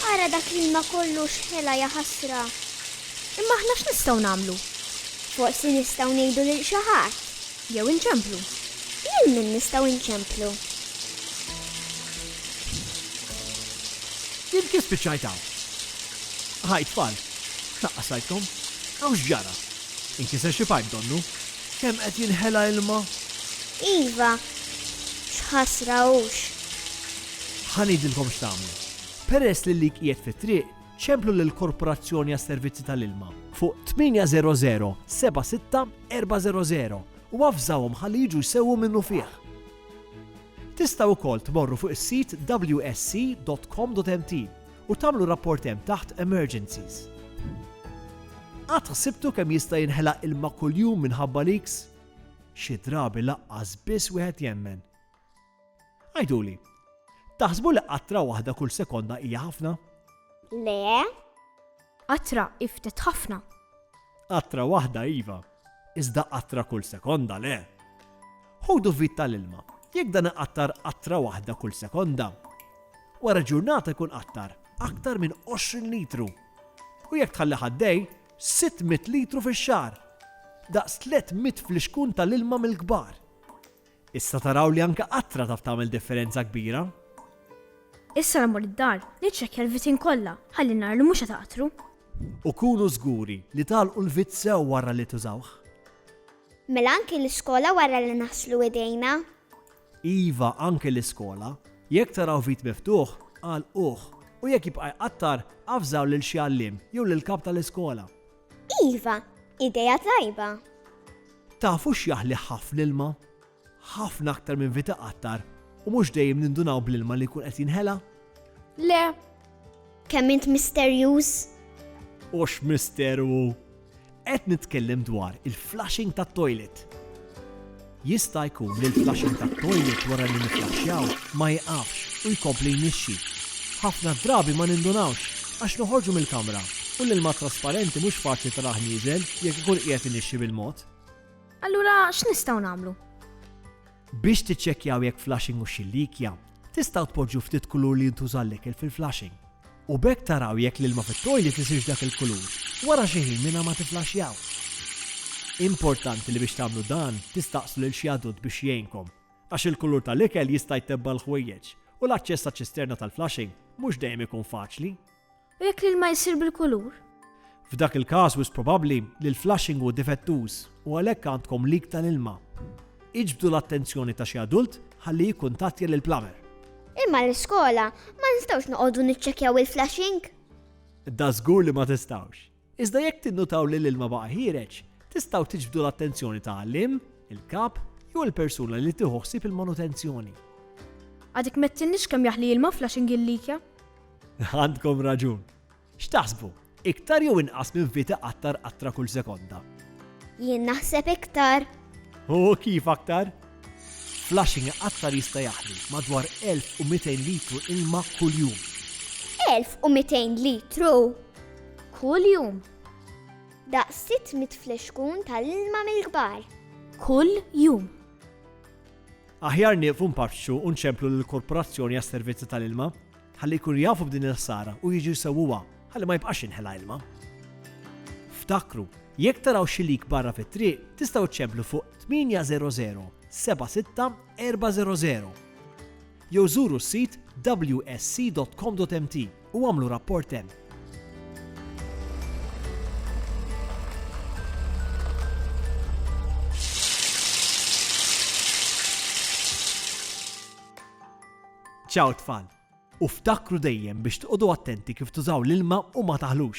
Ara dak l-ilma kollu xħela jaħasra. Imma aħna x'nistgħu nagħmlu? Forsi nistgħu ngħidu lil xi ħadd. Jew inċemplu. Lil min nistgħu nċemplu? Jien kif spiċċajt hawn? Ħaj tfal, x'naqqas rajtkom? Hawn x'ġara? Inkiser xi pajp donnu? Kemm qed jinħela ilma? Iva, x'ħasra hux. Ħa ngħidilkom x'tagħmlu. Peress li l-lik qiegħed fit-triq, Ċemplu lill-Korporazzjoni għas-Servizzi tal-Ilma fuq 800 76 400 u avżawhom ħalli jiġu jsewwu minnufih. Tistgħu wkoll tmorru fuq is-sit wsc.com.mt u tagħmlu rapport hemm taħt Emergencies. Qatt ħsibtu kemm jista' jinħela ilma kuljum minħabba leaks? Xi drabi lanqas biss wieħed jemmen. Għiduli, taħsbu li qatra waħda kull sekonda hija ħafna? Le. Qatra hi ftit ħafna. Qatra waħda iva, iżda qatra kull sekonda le. Ħudu vit tal-ilma, jekk dan iqattar qatra waħda kull sekonda. Wara ġurnata jkun qattar aktar minn 20 litru. U jekk tħalli ħaddej, 600 litru fix-xar. Daqs 300 flixkun tal-ilma mill-kbar. Issa taraw li anke qatra taf tagħmel differenza kbira. Issa mmur id-dar, niċċekkja l-vitin kollha ħalli nara li mhux qed aqtru. U kunu żguri li tagħlqu l-vit sew wara li tużawh. Mela anke l-iskola wara li naħslu idejna? Iva, anke l-iskola. Jekk taraw vit miftuħ, għalquh, u jekk jibqa' jqattar, avżaw lil xi għalliem jew lill-kap tal-iskola. Iva, idea tajba! Tafu x'jaħli ħafna ilma? Ħafna aktar minn vita qattar u mhux dejjem nindunaw bl-ilma li jkun qed jinħela? Le! Kemm int misterjuż! U x'misteru hu! Qed nitkellem dwar il-flushing tat-toilet! Jista' jkun li l-flushing tat-toilet wara li nifflaxxjaw ma jieqafx u jkompli jnixxi. Ħafna drabi ma nindunawx għax noħorġu mill-kamra u l-ilma trasparenti mhux faċli tarah nieżel jekk ikun qiegħed inixxi bil-mod. Allura x'nistgħu nagħmlu? Biex tiċċekkjaw jekk flushing hux xi likja, Tistgħu tpoġġu ftit kulur li jintuża għall-ikel fil-flushing. U b'hekk taraw jekk l-ilma fit-toilet isirx dak il-kulur wara xi ħin mingħajr ma tifflaxxjaw. Importanti li biex tagħmlu dan tistaqsu lil xi adult biex jgħinkom għax il-kulur tal-ikel jista' jtebba l-ħwejjeġ u l-aċċess għaċ-ċisterna tal-flushing mhux dejjem ikun faċli. U jekk l-ilma jsir bil-kulur? F'dak il-każ wisq probabbli li l-flushing hu difettuż u għalhekk għandkom leak tal-ilma. Iġbdu l-attenzjoni ta' xi adult ħalli jikkuntattja lill-plumber. Imma l-iskola ma nistgħux noqogħdu niċċekkjaw il-flushing? Dażgur li ma tistgħux! Iżda jekk tinnutaw li l-ilma baqa' ħiereġ, tistgħu tiġbdu l-attenzjoni ta' għalliem, il-kap, jew il-persuna li tieħu ħsieb il-manutenzjoni. Għad ikmettilniex kemm jaħli ilma f'Flushing il-Likja? Għandkom raġun. X'taħsbu, iktar jew inqas minn vit iqattar qatra kull sekonda? Jien naħseb iktar. U kif aktar? Flushing iqattar jista' jaħli madwar 1200 litru ilma kuljum. 1200 litru? Kuljum. Daqs sitt mitt flexkun tal-ilma mill-kbar. Kuljum. Aħjar nieqfu npaċċu u nċemplu lill-Korporazzjoni għas-Servizzi tal-Ilma ħalli jkunu jafu b'din il-ħsara u jiġu jsewwuha ħalli ma jibqax jinħela ilma. Ftakru, jekk taraw xi leak barra fit-triq, tistgħu ċċemplu fuq 800 76 400. jew żuru s-sit wsc.com.mt u agħmlu rapport hemm. Ċaw tfal! U ftakru dejjem biex tqogħdu attenti kif tużaw l-ilma u ma taħlux.